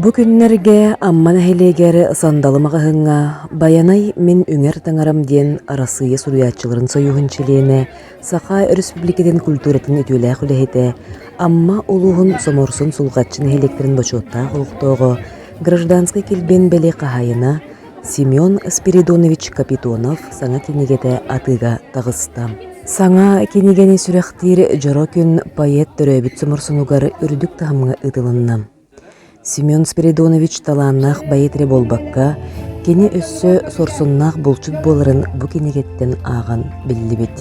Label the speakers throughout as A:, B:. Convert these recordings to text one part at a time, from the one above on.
A: Бу күннэргэ Амма нэһилиэгэр Сандалы маҕаһыыҥҥа «Байанай мин үҥэр таҥарам» диэн Арассыыйа суруйааччыларын союһун чилиэнэ, Саха Өрөспүүбүлүкэтин культуратын үтүөлээх үлэһитэ, Амма улууһун Соморсун Сулҕаччы нэһилиэктэрин бочуоттаах олохтооҕо, гражданскай килбиэн бэлиэ хаһаайына, Семен Спиридонович Капитонов саҥа кинигэтэ атыыга таҕыста. Саҥа кинигэни сүрэхтиир дьоро күн поэт төрөөбүт соморсунугар үрдүк таһымҥа ыытылынна. Семен Спиридонович талааннаах поэт эрэ буолбакка, кини өссө сорсуннаах булчут буоларын бу кинигэттэн ааҕан биллибит.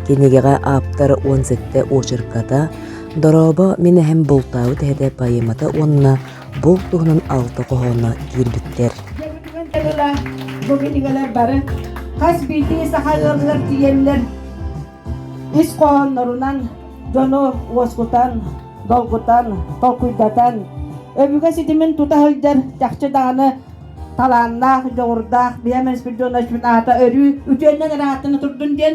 A: Кинигэҕэ ааптар уон сэттэ очерката, дорообо, мин эһэм бултаабыт эһэтэ поэмата уонна Бу туһунан алта хоһооно киирбиттэр.
B: Бу кинигэлэр бары хас биирдии саха ыалыгар тиийэллэр ис хоһооннорунан дьону уоскутан, долгутан, толкуйдатан, өбүгэ ситимин тута сылдьар чахчы даҕаны талааннаах, дьоҕурдаах Биһэ Менспирдионович аата өрүү үтүөннэн ырааттана турдун диэн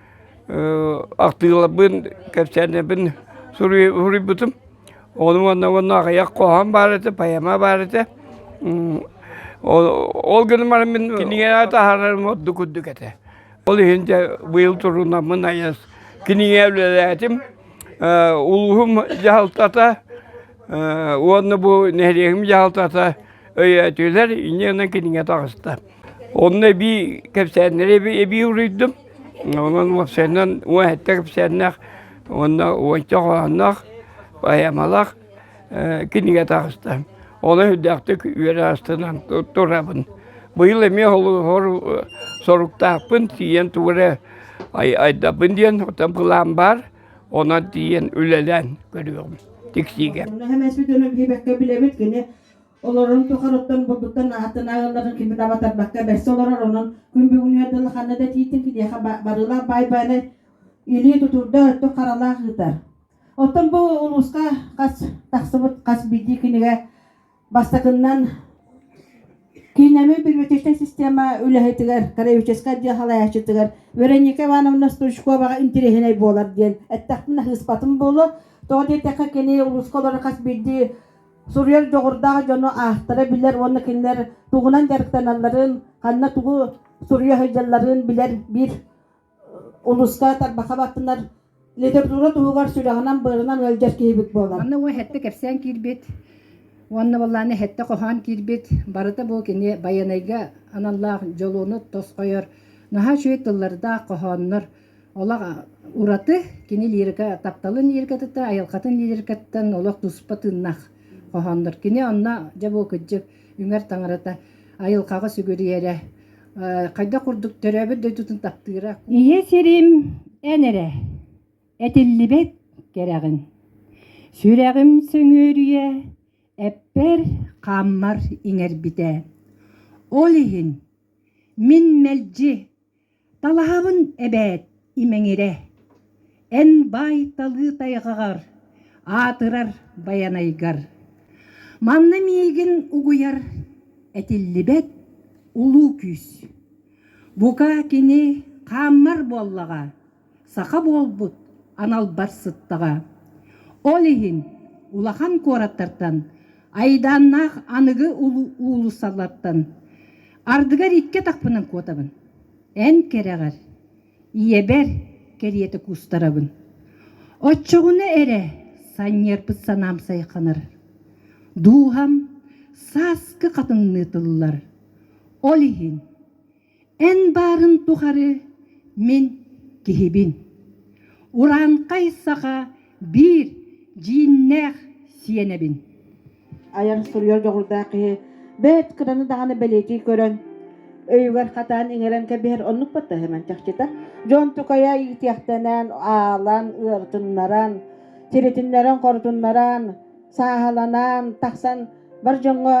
C: Ахтыыларбын, кэпсээннэрбин суруйбутум. Ону уонна уонна аҕыйах хоһоон баар этэ, поэма баар этэ. Ол гынан баран мин кинигэни таһаарарым ордук үрдүк этэ. Ол иһин дьэ быйыл турунаммын айас кинигэ үлэлээтим. Улууһум дьаһалтата уонна бу нэһилиэгим дьаһалтата өйөөтүлэр, инньэ гынан кинигэ таҕыста. Онно эбии кэпсээннэри эбии, эбии уруйдум. Онон уопсайынан уон сэттэ кэпсээннээх уонна уонча хоһоонноох, поэмалаах э, кинигэ таҕыста. Ону үрдээхтик үөр астынан турабын. Быйыл эмиэ соруктаахпын тиийэн тугу эрэ айдабын диэн хотон план баар. Онон тиийэн үлэлээн көрүөм, тиксиигэ. Наһаа сүтөнүн
B: билбэккэ билэбит кини олорорун тухарыттан бурдуттан аһаттан ааҕылларын кими да батарбакка бэрсэ олорор онон күн бүгүн үөрдэл ханна да тиитин киһиэхэ барыылаах баай баары илии тутурда өттүк харалаах ыытар оттон бу улууска хас тахсыбыт хас билии кинигэ бастакыннан Киинэми перматичная система үлэһитигэр, краеведческай дьиэ халаячытыгар Вероника Ивановна Стручковаҕа интириэһинэй буолар диэн эттахпын аһыыспатым буолу. Тоҕо диэтэххэ, кини улууска олорор хас биирдии суруйар дьоҕурдаах дьону аахтара билэр уонна кинилэр тугунан дьарыктаналларын, ханна тугу суруйа сылдьалларын билэр биир улууска тарбаха баттанар литература туһугар сүрэҕинэн-быарынан ыалдьар киһибит буолар. Манна уо хэтте кэпсээн
D: киирбит уонна боллааны хэтте хоһоон киирбит барыта бу кини байанайга аналлаах дьолуону тосхойор наһаа үчүгэй тыллардаах хоһооннор Олох ураты кини лирика тапталын лирикатыттан айылхатын лирикаттан олох туспа тыннах хоһооннор. Кини онно дьэ бу кыдьык үҥэр таҥарата айылхаҕа сүгүрүйэрэ хайда курдук төрөөбүт дойдутун таптыыра. Ийэ сирим
E: эн эрэ этиллибэт кэрэҕин сүрэҕим сөҥүөрүйэ эппэр хааммар иҥэрбитэ ол иһин мин мэлдьи Талаһабын эбээт, имэҥирэ, эн баай талыы тайҕаҕар, аатырар Байанайгар. Манна миигин угуйар этиллибэт улуу күүс. Бука, кини хааммар буоллаҕа. саха буолбут аналбар сыттаҕа. Ол иһин улахан куораттартан, айдааннаах аныгы уулуссалартан ардыгар икки атахпынан куотабын. Эн кэрэҕэр, ийэбэр кэриэтэ куустарабын. Оччоҕуна эрэ санньыарпыт санаам сайханар. Дууһам сааскы хатыҥныы тыллар. Ол иһин Эн баарын тухары мин киһибин. Урааҥхай саха биир дьииннээх сиэнэбин. Айан
B: суруйар дьоҕурдаах киһи бэрт кыраны даҕаны бэлиэтии көрөн, өйүгэр хатаан иҥэрэн кэбиһэр оннук баттаһыман чахчыта. Дьон тукайа иитиэхтэнэн, аалан, ыарытыннаран, тиритиннэрэн, хорутуннаран, сааһыланан тахсан бар дьоҥҥо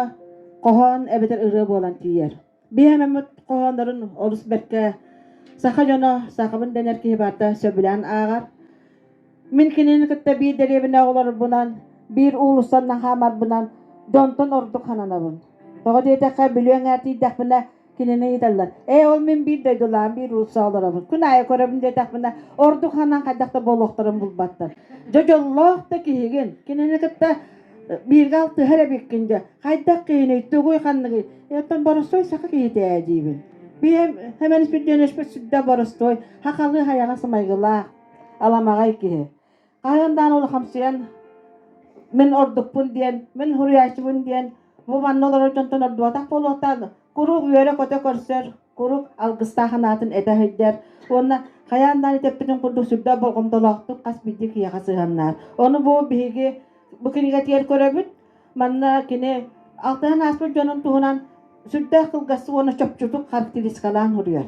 B: хоһоон эбэтэр ырыа буолан тиийэр. Биһэмэммит хоһооннорун олус бэркэ саха дьоно, сахабын дэнэр киһи барда сөбүлээн ааҕар. Мин кинини кытта биир дэриэбинэ оҕолорбунан, биир уулуссан наһаамарбынан донтон ордук хананабын. Тоҕо диэтэххэ, бүлүөҥ ээтийдэхпинэ кинини ыыталлар. Ээ, ол мин биир дойдулаан, биир уулусса олоробун. Күн аайы көрөбүн диэтэхпинэ, ордук ханан хайдах да буолуохтарын булбаттар. Дьэ, дьоллоох да киһигин. Кинини кытта бииргэ алтыһар эбиккин дьэ хайдах киһиний тугуй ханныгый оттон боростуой саха киһитэ ээ диибин биэм хэмэн сүддьөнөспүт сүддэ боростуой хахалы хайаҕас майгылаах аламаҕай киһи хаһан даан улахамсыйан мин ордукпун диэн мин суруйааччыбын диэн бу манна олорор дьонтон ордубатах буолуохтаан куруук үөрэ-көтө көрсөр куруук алгыстаах анаатын этэ сылдьар уонна хайаан даҕаны этэппитин курдук сүрдээх болҕомтолоохтук хас биирдии киһиэхэ сыһыаннаах ону бу биһиги бу кинигэтигэр көрөбүт манна кини алтыһан ааспыт дьонун туһунан сүрдээх кылгастык уонна чопчутук характеристикалаан суруйар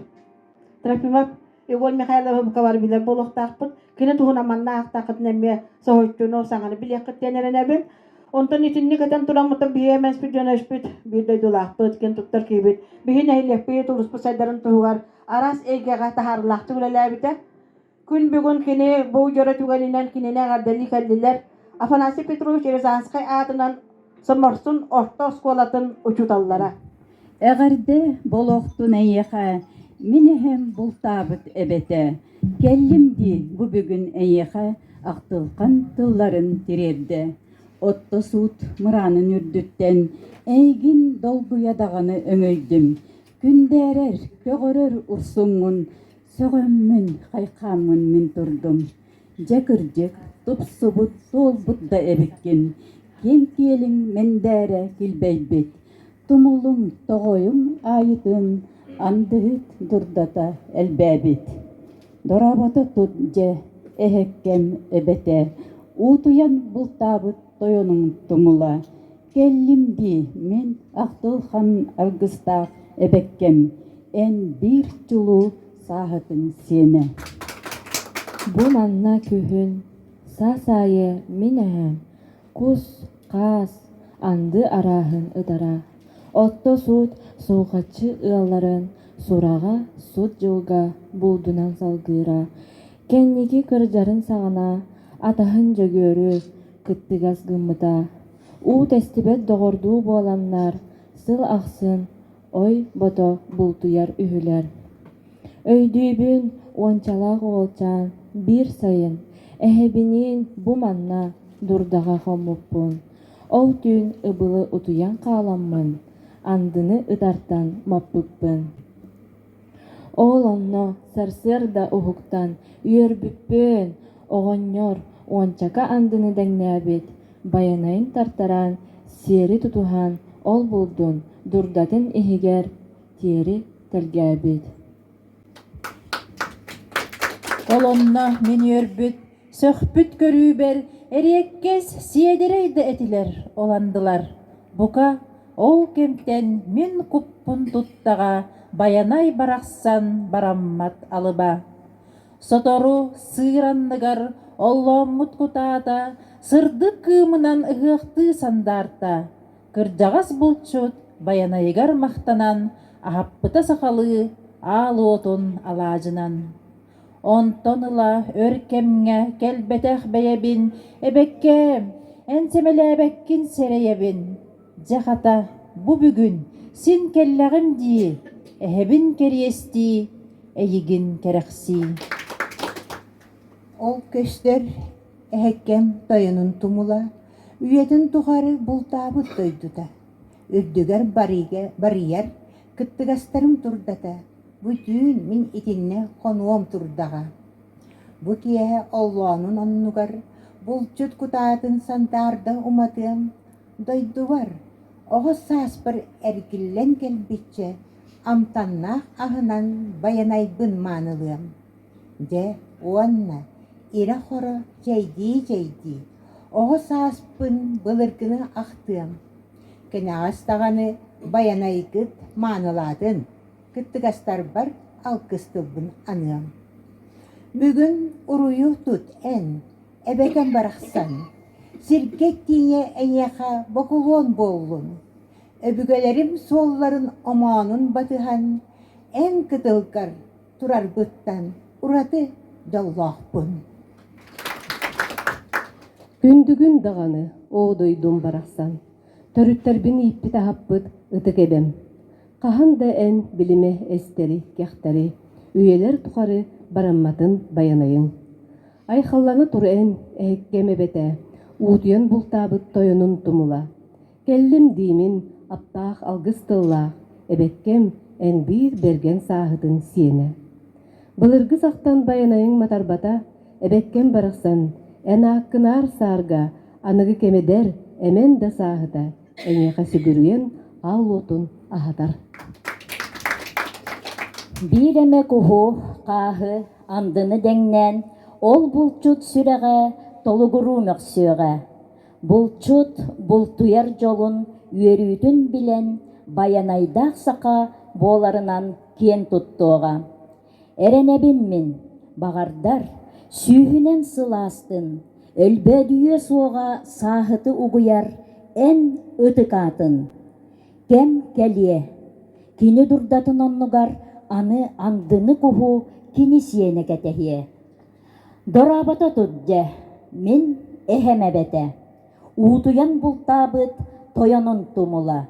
B: Трофимов Егор Михайлов Мковар билэр буолуохтаахпын. Кини туһунан манна аахтаахытын эмиэ соһуччуну саҥаны билиэххит диэн эрэнэбин. Онтон итинник этэн тураммытын биһиги эмэспит дьон өспүт биир дойдулаахпыт, кин туттар киһибит, биһи нэһилиэкпит улууспут сайдарын туһугар араас эйгэҕэ таһаарылаахтык үлэлээбитэ. Күн бүгүн кини бу дьоро түгэнинэн кинини эҕэрдэлии кэллилэр. Афанасий Петрович Рязанскай аатынан Соморсун орто оскуолатын учууталлара. Эҕэрдэ
E: болуохтун эйиэхэ, мин эһэм бултаабыт эбэтэ. Кэллим дии бу бүгүн эйиэхэ ахтылҕан тылларын тириэрдэ. Отто суут мыраанын үрдүттэн эйигин долгуйа даҕаны өҥөйдүм. Күндээрэр, көҕөрөр урсуҥҥун сөҕөммүн, хайхааммын мин турдум. Дьэ кырдьык, тупсубут, туолбут да эбиккин, киэҥ-киэлиҥ мэндээрэ килбэйбит, тумулуҥ, тоҕойуҥ аайытын андыһыт дурдата элбээбит. Дорообото тут, дьэ, эһэккэм эбэтэ, уутуйан бултаабыт Тойонуҥ Тумула, кэллим дии, мин Ахтылхан аргыстаах эбэккэм, эн биир чулуу сааһытыҥ сиэнэ.
F: Бу манна күһүн, саас аайы мин эһэм кус, хаас, анды арааһын ытара, отто суут суухаччы ыалларын сураҕа, сут дьылга, буулдунан салгыыра, Кэнники кырдьарын саҕана атаһын Дьөгүөрү кыттыгас гыммыта. Уу тэстибэт доҕордуу буоланнар, сыл ахсын ой бото бултуйар үһүлэр. Өйдүүбүн, уончалаах уолчаан биир сайын эһэбиниин бу манна дурдаҕа хоммуппун. Ол түүн ыбылы утуйан хааламмын, андыны ытартан маппыппын Ол онно сарсыарда уһуктан үөрбүппүн, оҕонньор уончака андыны дэҥнээбит байанайын тартаран, сиэри тутуһан ол-булдун дурдатын иһигэр тиэри тэлгээбит
E: Сөхпүт көрүүбэр эриэккэс сиэдэрэй да этилэр оландылар. Бука, ол кэмтэн мин куппун туттаҕа Байанай барахсан бараммат алыба. Сотору сыыр анныгар оллооммут кутаата сырдык кыымынан ыһыахтыы сандаарта. Кырдьаҕас булчут Байанайыгар махтанан аһаппыта сахалыы аал уотун алаадьынан. Онтон ыла өр кэмҥэ кэлбэтэх бэйэбин «Эбэккээм, эн сэмэлээбэккин сэрэйэбин. Дьэ хата, бу бүгүн син кэллэҕим дии, эһэбин кэриэстии, эйигин кэрэхсии»
G: Ол көстөр эһэккэм тойонун тумула, үйэтин тухары бултаабыт дойдута. үрдүгэр барыыга барыйар кыттыгастарым турдата «Бу түүн мин итиннэ хонуом турдаҕа» Бу киэһэ оллоонун оннугар булчут кутаатын сандаарда уматыам, дойдубар, оҕус сааспар эргиллэн кэлбиччэ амтаннаах аһынан байанайбын маанылыам. Дьэ уонна ирэ-хоро чэйдии-чэйдии оҕус ааспын былыргыны ахтыам. Кэнэҕэс даҕаны Байанайгыт маанылаатын, кыттыгастарбар алгыс тылбын аныам. Бүгүн уруйу тут эн, эбэтэн барахсан, сиргэ тиийэ эйиэхэ бокулуон буоллун, өбүгэлэрим суолларын омоонун батыһан, эн кытылгар турарбыттан ураты дьоллоохпун.
H: Күндүгүн даҕаны, оо дойдум барахсан, төрүттэрбин ииппит-аһаппыт ытык эбэм. Хаһан да эн билимэ эстэри, кэхтэри, үйэлэр тухары барамматын байанайыҥ. Айхаллана тур эн, эһэккэм эбэтэ, уутуйан бултаабыт тойонун тумула. Кэллим диимин, аптаах алгыс тыллаах, эбэккэм, эн биир бэргэн сааһытын сиэнэ. Былыргы сахтан байанайыҥ матарбата, эбэккэм барахсан, эн ааккынаар саарга, аныгы кэмэдэр, эмэн да сааһыта, эйиэхэ сүгүрүйэн аал уотун аһатар.
I: Биир эмэ куһу, хааһы, андыны дэҥнээн, ол булчут сүрэҕэ толугуруу мөхсүөҕэ. Булчут бултуйар дьолун үөрүүтүн билэн, байанайдаах саха буоларынан киэн туттуоҕа. Эрэнэбин мин, баҕардар, сүүһүнэн сылаастын, өлбөөдүйүө суоҕа сааһыты угуйар эн ытык аатын. Кэм кэлиэ. Кини дурдатын оннугар аны андыны куһу кини сиэнэ кэтэһиэ. Дорообото тут дьэ, мин эһэм эбэтэ, уутуйан бултаабыт тойонун тумула.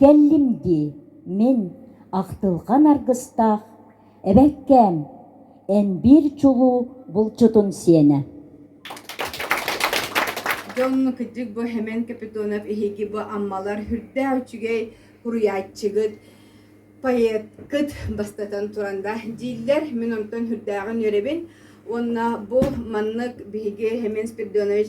I: Кэллим дии, мин ахтылҕан аргыстаах эбэккээм, эн биир чулуу булчутун сиэнэ.
B: Дьон кырдьык бу Хэмэн Капитонов эһиги бу Аммалар үрдээх үчүгэй куруйааччыгыт поэткыт бастатан туран да дииллэр мин онтон үрдээҕин үөрэбин уонна бу маннык биһиги Хемен Спирдонович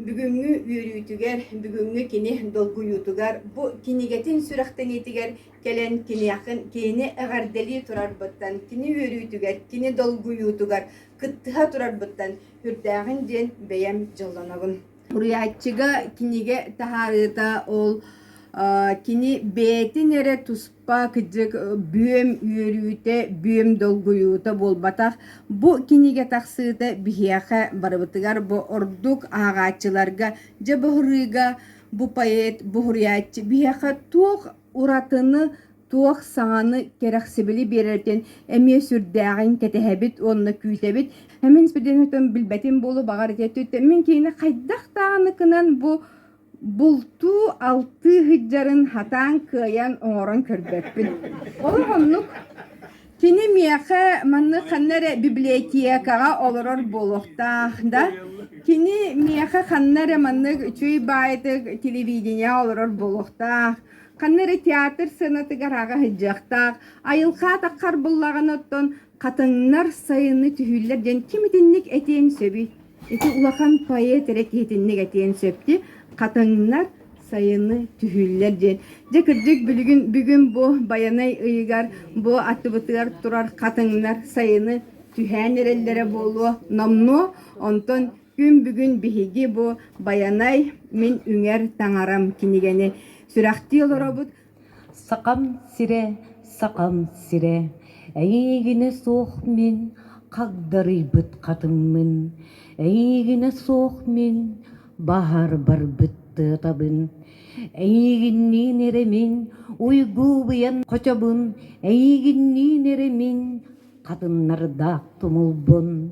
B: бүгүҥҥү үөрүүтүгэр бүгүҥҥү кини долгуйуутугар бу кинигэтин сүрэхтэниитигэр кэлэн киниэхин кини эҕэрдэлии турарбыттан кини үөрүүтүгэр кини долгуйуутугар кыттыһа турарбыттан үрдээҕин диэн бэйэм дьоллонобун Суруйааччыга кинигэ таһаарыыта ол кини бэйэтин эрэ туспа кыдьык бүөм үөрүүтэ, бүөм долгуйуута буолбатах. Бу кинигэ тахсыыта биһиэхэ барыбытыгар бу ордук ааҕааччыларга дьэ быһырыыга бу поэт, бу суруйааччы биһиэхэ туох уратыны туох саҥаны кэрэхсибили биэрэртэн эмиэ сүрдээҕин кэтэһэбит уонна күүтэбит эмин сберденитын билбэтим буолу баҕар ити мин киһини хайдах даҕаны кынан бу бултуу алтыы сыдьарын хатаан кыайан оҥорон көрбөппүн ол оннук кини миэхэ маннык ханна эрэ библиотекаҕа олорор буолуохтаах да кини миэхэ ханна эрэ маннык үчүй баайытык телевидение олорор буолуохтаах Ханна эрэ театр сыанатыгар аҕа сыдьыахтаах, айылҕа атаххар буллаҕын оттон хатыҥнар сайыны түһүүллэр диэн ким итинник этиэн сөбүй? Ити улахан поэт эрэ киһитинник этиэн сөпти, хатыҥнар сайыны түһүүллэр диэн. Дьэ кырдьык бүгүн бүгүн бу Байанай ыйыгар бу аттыбытыгар турар хатыҥнар сайыны түһээн эрэллэрэ буолуо номнуо, онтон Күн бүгүн биһиги бу Байанай мин үҥэр таҥарам кинигэни сүрэхтии олоробут. Сахам
H: сирэ, Сахам сирэ, эйигине суох мин хагдарыйбыт хатыммын, эйигине суох мин баһар барбыт тыатабын, эйигинниин эремин уйгуубуйан хочобун, эйигинниин эремин хатыннардаах тумулбун.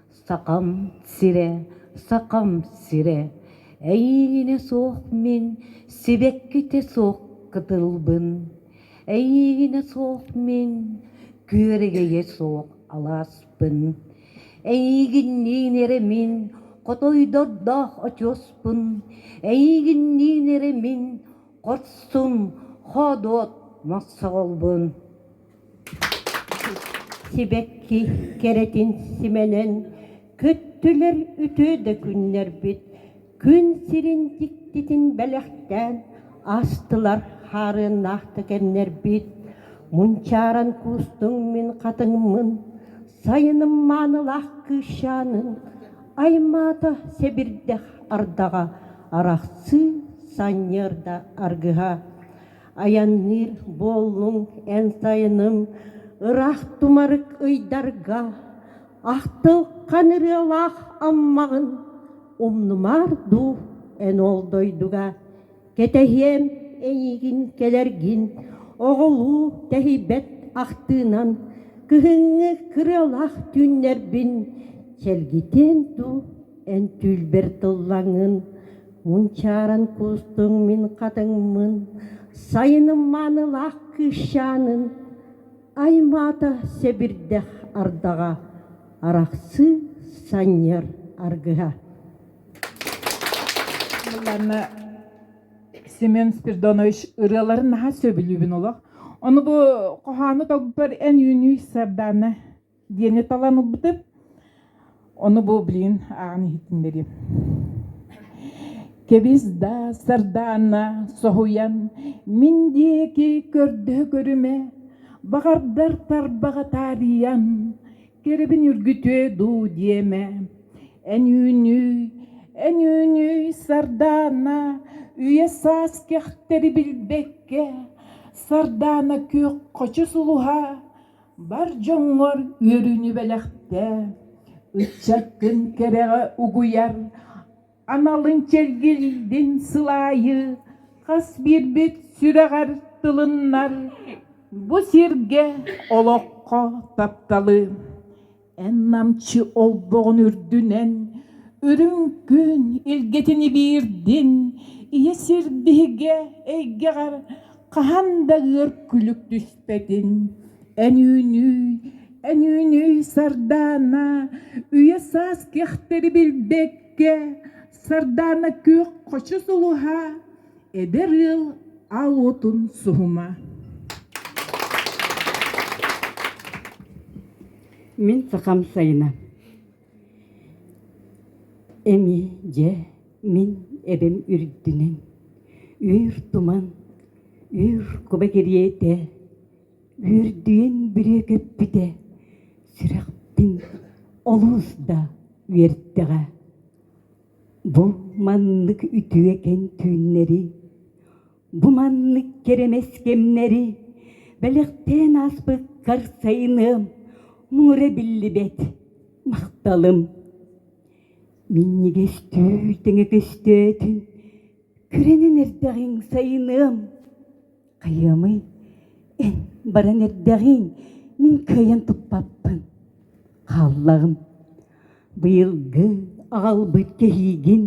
H: Сахам сирэ, Сахам сирэ, эйиинэ суох мин сибэккитэ суох кытылбын, эйиинэ суох мин күөрэгэйэ суох алааспын, эйиигинниин эрэ мин хотойдордоох очуоспун, эйиигинниин эрэ мин хорсун хоодуот мосоҕолбун. Сибэкки кэрэтин симэнэн көттүлэр үтүө да күннэрбит күн сирин дьиктитин бэлэхтээн астылар хаарыаннаахтык эмнэрбит
J: мунчааран куустуҥ мин хатыҥмын сайыным маанылаах кыысчаанын аймаата сэбирдэх ардаҕа арахсыы санньыарда аргыһа айанныыр буоллуҥ эн сайыным ыраах тумарык ыйдарга ахтылҕан ырыалаах аммаҕын умнумаар дуу эн ол дойдуга кэтэһиэм эйиигин кэлэргин оҕолуу тэһийбэт ахтыынан кыһыҥҥы кырыалаах түүннэрбин чэлгитиэн дуу эн түүлбэр тыллаҥын Мунчааран кустуҥ мин хатыҥмын, Сайыным маанылаах кыысчаанын, Аймаата сэбирдэх ардаҕа, Арахсыы санньыар аргыһа.
E: Мылланна Семен Спирдонович ырыаларын наһаа сөбүлүүбүн олох. Ону бу хоһоону толгуппар эн үүнүй сардаана диэни талан ылбытым. Ону бу блин ааҕан иһитиннэрим. Кэбис да сардаана соһуйан мин диэки көрдө көрүмэ баҕардар тарбаҕа таарыйан кэрэбин үргүтүө дуу диэмэ эн үүнүй эн үүнүй сардаана үйэ саас кэхтэри билбэккэ сардаана күөх хочу сулуһа Бар дьоҥҥор үөрүүнү бэлэхтээ, ыччат күн кэрэҕэ угуйар, аналын чэлгилдин сылаайы, хас биирбит сүрэҕэр тылыннар, бу сиргэ, олоххо тапталы! Эн намчы олбоҕун үрдүнэн үрүҥ күн илгэтин ибиирдин ийэ сир биһигэ эйгэҕэр хаһан да ыар күлүк түспэтин эн үүнүй эн үүнүй сардаана үйэ саас кэхтэри билбэккэ сардаана күөх хочу сулуһа Эдэр ыал ал уотун суһума.
J: Мин сахам сайына. Эми дьэ мин эбэм үрдүнэн. Үүр туман, үүр куба кириэтэ, үүрдүйэн бүрүөкэппитэ, сүрэхпин олус да үөртэҕэ. Бу маннык үтүөкэн түүннэри, бу маннык кэрэмэс кэмнэри бэлэхтээн ааспыккар сайыныам муҥура биллибэт махталым. Минньигэс түү тэҥэ көстөөтүн көрөнөн эрдэҕиҥ сайыныам хайыамый эн баран эрдэҕиҥ мин кыайан туппаппын хааллаҕым быйылгы аҕалбыт кэһиигин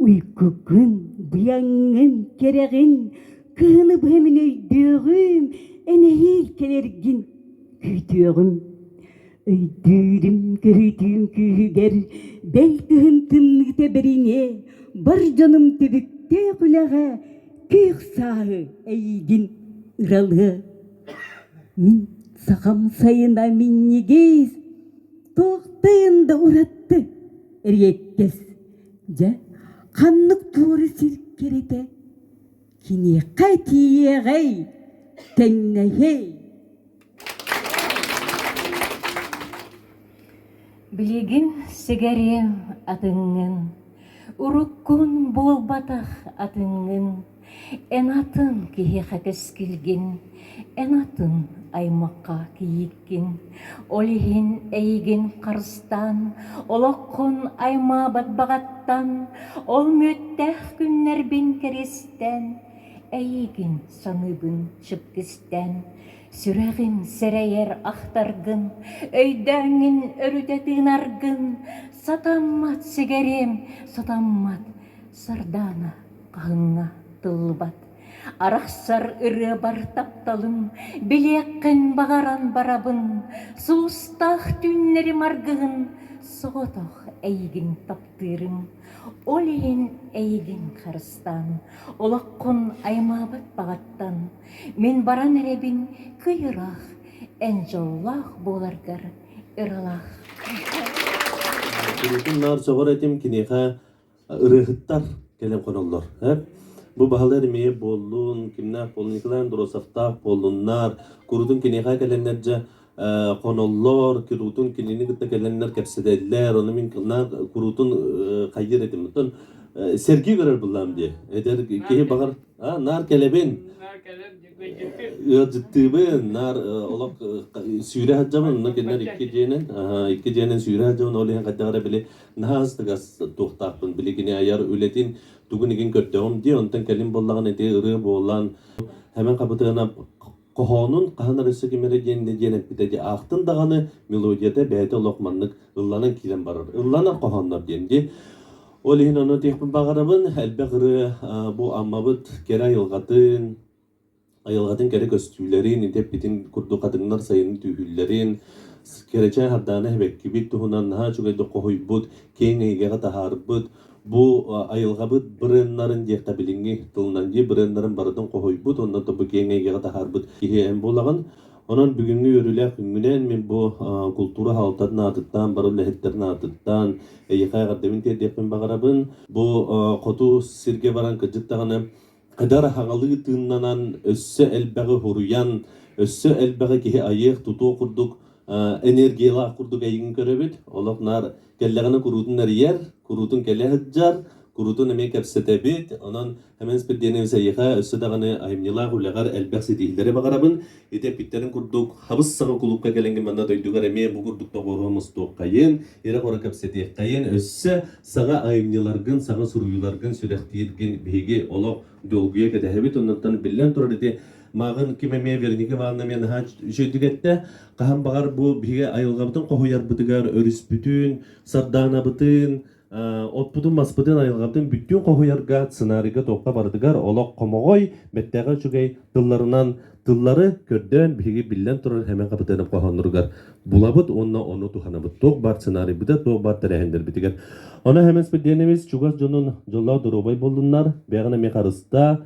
J: уйкуккун быйаҥҥын кэрэҕин кыыны быһа мин өйдүөҕүм эн эһиил кэлэргин күүтүөҕүм Өйдүүрүм көһүтүүм күүһүгэр бэл кыһын тымныыта бэриҥэ бар дьонум түбүктээх үлэҕэ күөх сааһы эйигин ыралыа. Мин сахам сайына минньигэс туохтайын да уратты эриэккэс дьэ ханнык туора сир кэритэ Киниэхэ тиийиэҕэй, тэҥнэһиэй
I: Билигин сигэриэм атыҥҥын, уруккун буолбатах атыҥҥын, эн атын киһиэхэ кэскилгин, эн атын аймахха кийииккин. Ол иһин эйигин харыстаан, олоххун аймаабат баҕаттан, ол мүөттээх күннэрбин кэристэн, эйигин саныыбын чыпкистэн, сүрэҕим сэрэйэр ахтаргын, өйдөөҥҥүн өрүтэ тыынаргын, сатаммат сигэриэм, сатаммат сардаана хаһыҥҥа тыллыбат. Арахсар ырыабар тапталым, билиэххин баҕаран барабын, Суустаах түүннэрим аргыһын соҕотох эйигин таптыырым. Ол иһин эйигин харыстаан, олоххун аймаабыт баҕаттан, мин баран эрэбин кый-ыраах, эн дьоллоох буоларгар ыралаах.
K: Кырыытым наар сөҕөр этим киниэхэ ырыаһыттар кэлэн хоноллор. Эп? Бу баһылар эмиэ буоллун, кимнээх буоллун, Николай Андросовтаах буоллуннар, курутун киниэхэ кэлэннэрдьэ хоноллор, куруутун кинини кытта кэлэннэр кэпсэтэллэр, ону мин кылнаах куруутун хайыр этим. Оттон сэргии көрөр буллаам дии. Эдэр киһи баҕар наар кэлэбин. Ыалдьыттыыбын, наар олох сүүрэ сылдьабын, онно кинилэр икки дьиэнэн, икки дьиэнэн сүүрэ сылдьабын, ол иһин хайдах эрэ били наһаа астыгас туохтаахпын билигини айар үлэтин тугун игин көрдөҕүм дии онтон кэлин буоллаҕына ити ырыа буолан Хэмэн Хабытыана хоһоонун хаһан эрэ сигимэри диэн диэн эппитэ дии аахтын даҕаны мелодията бэйэтэ олох маннык ылланан киирэн барар ылланар хоһооннор диэн дии ол иһин ону диэхпин баҕарабын элбэх ырыа бу аммабыт кэрэ айылҕатын Айылҕатын кэрэ көстүүлэрин, итиппитин курдук хатыҥнар сайынын түүһүүллэрин, кэрэчээн хардаана эбэккибит туһунан наһаа үчүгэйдик хоһуйбут, киэҥ эйгэҕэ таһаарбыт. Бу айылҕабыт бренднарын диэххэ билиҥҥи тылынан бренднарын барытын хоһуйбут, онно бу киэҥ эйгэҕэ таһаарбыт киһи эн буолаҕын. Онон бүгүҥҥү үөрүүлээх күҥҥүнэн мин бу култуура салалтатын аатыттан, бары үлэһиттэрин аатыттан эйиэхэ эҕэрдэбин тиэрдиэхпин баҕарабын. Бу хоту сиргэ баран кырдьык даҕаны Ыдар аһаҕалыы тыыннанан, өссө элбэҕи хоруйан, өссө элбэҕи киһи айыах-тутуох курдук, энергиялаах курдук эйигин көрөбүт. Олох наар кэллэҕинэ куруутун эрийэр, куруутун кэлэ сылдьар, куруутун эмиэ кэпсэтэбит. Онон Хэмэс Перденэбис эйиэхэ өссө даҕаны айымньылаах үлэҕэр элбэх ситиһиилэри баҕарабын. Ити эппиттэрин курдук, хабыс-саҕы кулуупка кэлэҥҥин манна дойдугар эмиэ бу курдук доҕуоруһа мустуоххайын, ирэ-хоро кэпсэтиэххэйин, өссө саҥа айымньыларгын, саҥа суруйууларгын сүрэхтииргин биһиги олох долгуйа кэтэһэбит. Оннуктан биллэн турар ити мааҕын ким эмиэ Вероника Ивановна миэнэ наһаа үчүгэйдик эттэ. Хаһан баҕар бу биһиги айылҕабытын хоһуйарбытыгар өрүспүтүн, сардаанабытын, отпутун-маспытын, айылҕатын бүттүүн хоһуйарга, сценарийга туохха барытыгар олох хомоҕой, бэртээхэй үчүгэй тылларынан тыллары көрдөөн биһиги биллэн турар Хэмэн Хапытыанап хоһоонноругар булабыт уонна ону туһанабыт туох баар сценарийбытыгар туох баар тэрээһиннэрбитигэр. Ону Хэмэн Спирдиэнэбис чугас дьонун дьоллоох доруобай буоллуннар, бэҕэни эмиэ харыста,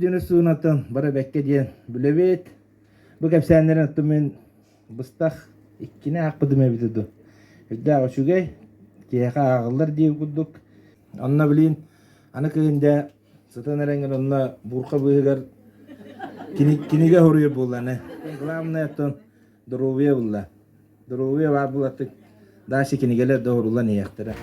L: диэни суунаттан бары бэкке диэн бүлэбит бу кэпсээннэрин оттум мин быстах иккини аахпытым эбитэ ду үрдээх үчүгэй киһиэхэ ааҕыллар диир курдук онно билин аны кыһында Сытан эрэн онно бурка быыһыгар кинигэ хоруйар буолланы. Главное оттон доруобуйа булла. Доруобуйа баар булаттык дальше кинигэлер да орулан иэхтэрэ.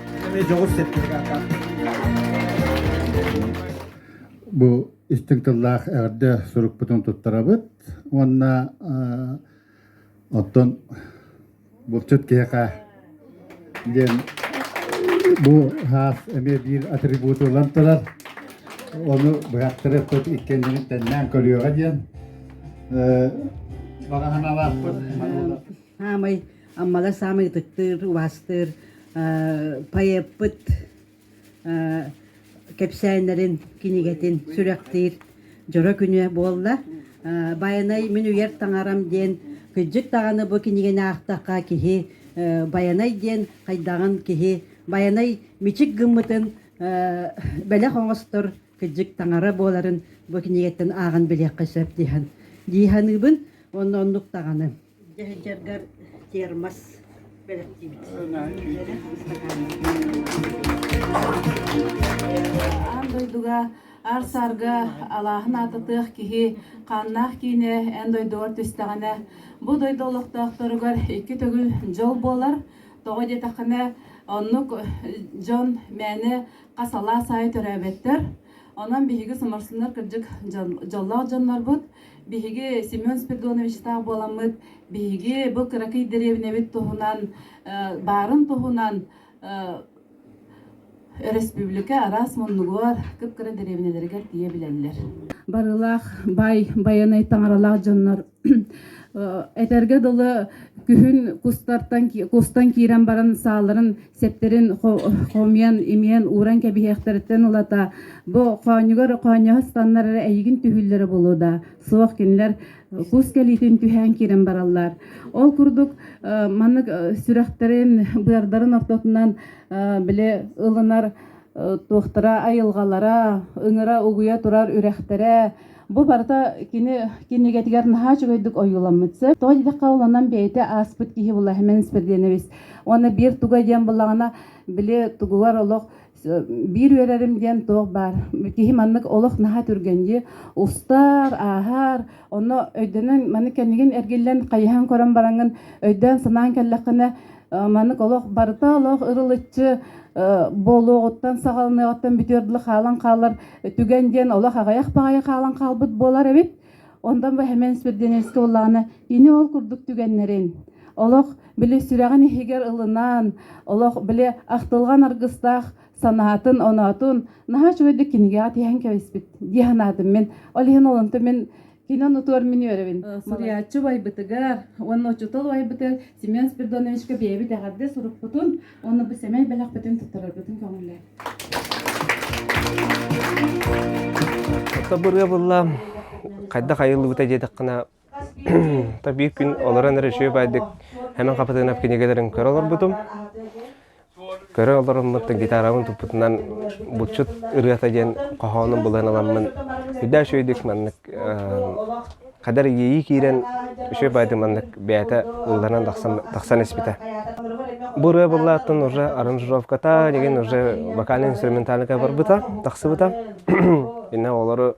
M: Бу истиҥ тыллаах эҕэрдэ сурукпутун туттарабыт уонна оттон булчут киһиэхэ диэн бу саас эмиэ биир атрибуту ылан турар ону быһахтары эппит иккэннэрин тэннээн көрүөҕэ диэн баҕа санаалаахпыт саамай
B: аммала саамай ытыктыыр убаастыыр поэппыт кэпсээннэрин, кинигэтин сүрэхтиир дьоро күнүө буолла. Байанай мин үйэр таҥарам диэн кыдьык даҕаны бу кинигэни аахтахха киһи Байанай диэн хайдаҕын киһи Байанай мичик гыммытын бэлэх оҥостор кыдьык таҥара буоларын бу кинигэттэн ааҕан билиэххэ сөп дии дии саныыбын онно оннук даҕаны дьаһайдьаргар термос бэлэхтиибит.
N: Аан дойдуга аар-саарга алааһын аатытыах киһи хааннаах киинэ эн дойдугар түстэҕинэ бу дойду олохтоохторугар икки төгүл дьол буолар тоҕо диэтэххинэ оннук дьон мээнэ хас алаас аайы төрөөбөттөр Онон биһиги самарсыннар кырдьык дьоллоох дьоннорбут. Биһиги Семен Спиридонович-таах буоламмыт, биһиги бу кыракый дэриэбинэбит туһунан, баарын туһунан өрөспүүбүлүкэ араас муннугугар, кып-кыра дэриэбинэлэригэр тиийэ билэллэр. Барылаах
D: бай байанай таҥаралаах дьоннор этэргэ дылы күһүн кустартан кустан киирэн баран сааларын сэптэрин хомуйан имиэн ууран кэбиһиэхтэриттэн ылата бу хоонньугар хоонньоһо станнар эрэ эйигин түһүллэрэ болуо да суох кинилэр кус кэлиитин түһээн киирэн бараллар ол курдук маннык сүрэхтэрин быардарын ортотунан били ылынар туохтара айылҕалара ыҥыра угуйа турар үрэхтэрэ Бу барыта кини кинигэтигэр наһаа үчүгэйдик ойууламмыт сөп. Тоҕо диэтэххэ олонон бэйэтэ ааспыт киһи была Химен Спирденович. Уонна биир туга диэн буллаҕына били тугугар олох биир үөрэрим диэн туох баар. Киһи маннык олох наһаа түргэнди устар, ааһар. Онно өйдөнөн маны кэнигин эргиллэн хайыһан көрөн бараҥын өйдөөн санаан кэллэххинэ маннык олох барыта олох ырылыччы буолуоҕуттан саҕаланыаҕыттан бүтүөр дылы хаалан хаалар түгэн диэн олох аҕыйах баҕайы хаалан хаалбыт буолар эбит онтон бу Хэмэн Спирденевский уллаҕына кини ол курдук түгэннэрин олох били сүрэҕин иһигэр ылынан олох били ахтылҕан аргыстаах санаатын оноотун наһаа үчүгэйдик кинигэҕэ тиһэн кэбиспит дии санаатым мин ол иһин олонто мин Кино нутуор мин үөрөбүн. Суруйааччы убайбытыгар уонна учуутал убайбытыгар Семен Спирдоновичка бэйэбит эҕэрдэ сурукпутун уонна бу сэмэй бэлэхпитин туттарарбытын көҥүллээн.
O: Табыр ыбылла хайдах айыллыбыта диэтэххина та биир күн олорон эрэ үчүгэй байдык Хэмэн Хапатынов кинигэлэрин көрө олорбутум. Көрө олоруммут гитарабын туппутунан булчут ырыата диэн хоһоонун булан аламмын үрдэ үчүгэйдик маннык кадыр иэйии киирэн үчүгэй баайдык маннык бэйэтэ ылланан тахсан испитэ. Бу ырыа буллааттан уже аранжировката деген уже вокальный инструментальныка барбыта тахсыбыта. Инна олору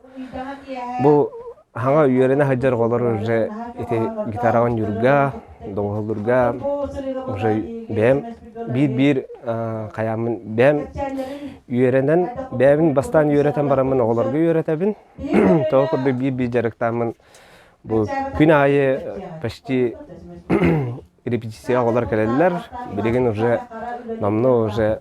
O: бу Хаҕа үөрэнэ сылдьар оҕолор уже ити гитараҕын ньурга, доҕуһаллырга уже бэйэм биир-биир хайааммын бэйэм үөрэнэн бэйэбин бастаан үөрэтэн бараммын оҕолорго үөрэтэбин. Того курдук биир-биир дьарыктааммын бу күн аайы почти репетицияҕа оҕолор кэлэллэр. Билигин уже намна уже